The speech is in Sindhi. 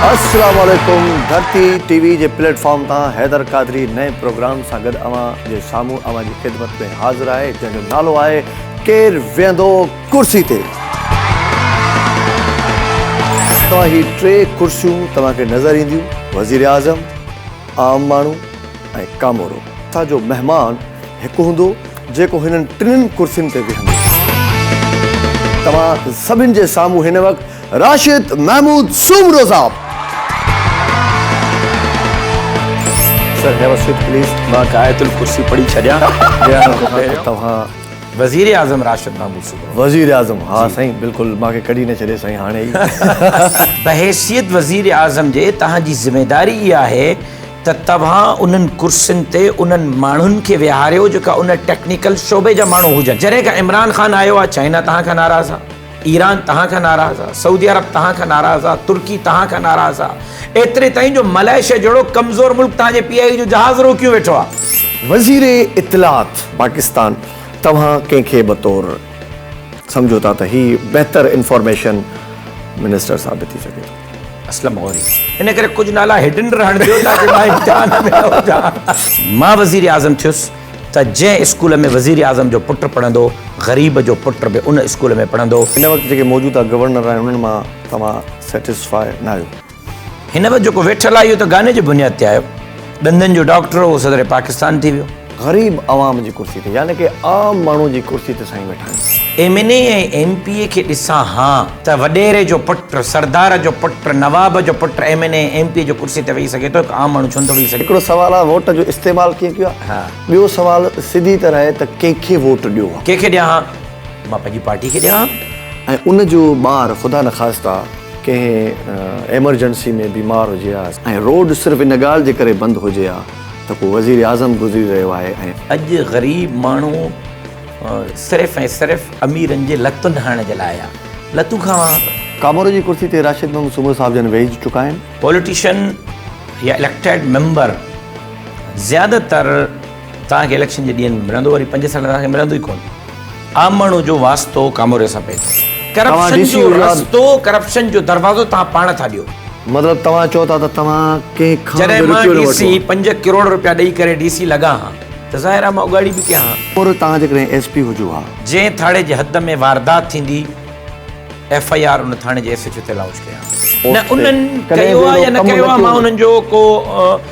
اسلام عليڪم ڌرتي ٽي وي جي پليٽ فارم تان حيدر قادري نئين پروگرام سان گڏ اوهان جي سامهون اوهان جي خدمت ۾ حاضر آهي جنهن جو نالو آهي ڪير ويهندو ڪرسي تي توهان هي ٽي ڪرسيون توهان کي نظر اينديون وزير اعظم عام ماڻهو ۽ ڪامورو اسان جو مهمان هڪ هوندو جيڪو هنن ٽنهن ڪرسين تي ويهندو. توهان سڀن جي سامهون هن وقت راشد محمود سومرو صاحب. سر نيور سوئٽ پليز مان غايت الڪرسي پڙهي ڇڏيان ويهڻ کان پهريون توهان وزير اعظم راشد محمود سومرو. وزير اعظم ها سائين بلڪل مان کي ڪڍي نه ڇڏي سائين هاڻي ئي. بحيثيت وزير اعظم جي توهان جي ذميداري اها آهي. ته توهان انهن ڪرسين تي انهن ماڻهن کي ويهاريو جيڪا ان ٽيڪنيڪل شعبي جا ماڻهو هجن جڏهن کان عمران خان آيو آهي چائنا توهان کان ناراض آهي ايران توهان کان ناراض آهي سعودي عرب توهان کان ناراض آهي ترڪي توهان کان ناراض آهي ايتري تائين جو ملائيشيا جهڙو ڪمزور ملڪ توهان جي پي آء اي جو جهاز روڪيون ويٺو آهي. وزير اطلاعات پاڪستان توهان ڪنهن کي بطور سمجهو ٿا ته هي بهتر انفارميشن منسٽر ثابت ٿي سگهي ٿو. اسلم غوري ان ڪري ڪجهه نالا هڊن رهڻ ڏيو تاڪه مان امتحان ۾ نه هجان. مان وزير اعظم ٿيس ته جنهن اسڪول ۾ وزير اعظم جو پٽ پڙهندو غريب جو پٽ به ان اسڪول ۾ پڙهندو. هن وقت جيڪي موجوده گورنر آهن انهن مان توهان سيٽسفاء ناهيو. هن وقت جيڪو ويٺل آهي اهو ته گاني جي بنياد تي آهيو. ڏندن جو ڊاڪٽر اهو صدر پاڪستان ٿي ويو. غريب عوام جي ڪرسي تي يعني ڪي عام ماڻهو جي ڪرسي تي سائين ويٺا آهن. M N A ۽ M P A کي ڏسان ها ته وڏيري جو پٽ، سردار جو پٽ، نواب جو پٽ M N A ۽ M P A جي ڪرسي تي ويهي سگهي ٿو هڪ عام ماڻهو ڇو نٿو ويهي سگهي. هڪڙو سوال آهي ووٽ جو استعمال ڪيئن ڪيو آهي. ٻيو سوال سڌي طرح آهي ته ڪنهن کي ووٽ ڏيو ها. ڪنهن کي ڏيان ها ته مان پنهنجي پارٽي کي ڏيان ها. ۽ ان جو ٻار خدا نخواسته. ڪنهن ايمرجنسي ۾ بيمار هجي ها ۽ روڊ صرف ان ڳالهه جي ڪري بند هجي ها ته ڪو وزيراعظم گذري رهيو آهي ۽. اڄ غريب ماڻهو صرف ۽ صرف اميرن جي لتن هڻڻ جي لاء آيا لتون کاوا. ڪامورو جي ڪرسي تي راشد محمد سومرو صاحب جن ويهي چڪا آهن. پوليٽيشن يا اليڪٽيڊ ميمبر زياده تر. توهان کي اليڪشن جي ڏينهن ۾ ملندو وري پنج سال توهان کي ملندو ئي ڪونه عام ماڻهو جو واسطو ڪاموري سان پئي ٿو ڪرپشن جو رستو ڪرپشن جو دروازو توهان پاڻ ٿا ڏيو. مطلب توهان چئو ٿا ته توهان ڪنهن کان به روپيو نه ورتو آهي. جڏهن مان ڊي سي پنج ڪروڙ روپيا ڏئي ڪري ڊي سي لڳا ها ته ظاهر آهي مان اڳاڙي به ڪيا ها. پور توهان جيڪڏهن ايس پي هجو ها. جنهن ٿاڻي جي حد ۾ واردات ٿيندي ايف آئي آر ان ٿاڻي جي ايس ايڇ او تي لانچ ڪيا ها. نه انهن ڪيو آهي يا نه ڪيو آهي مان انهن جو ڪو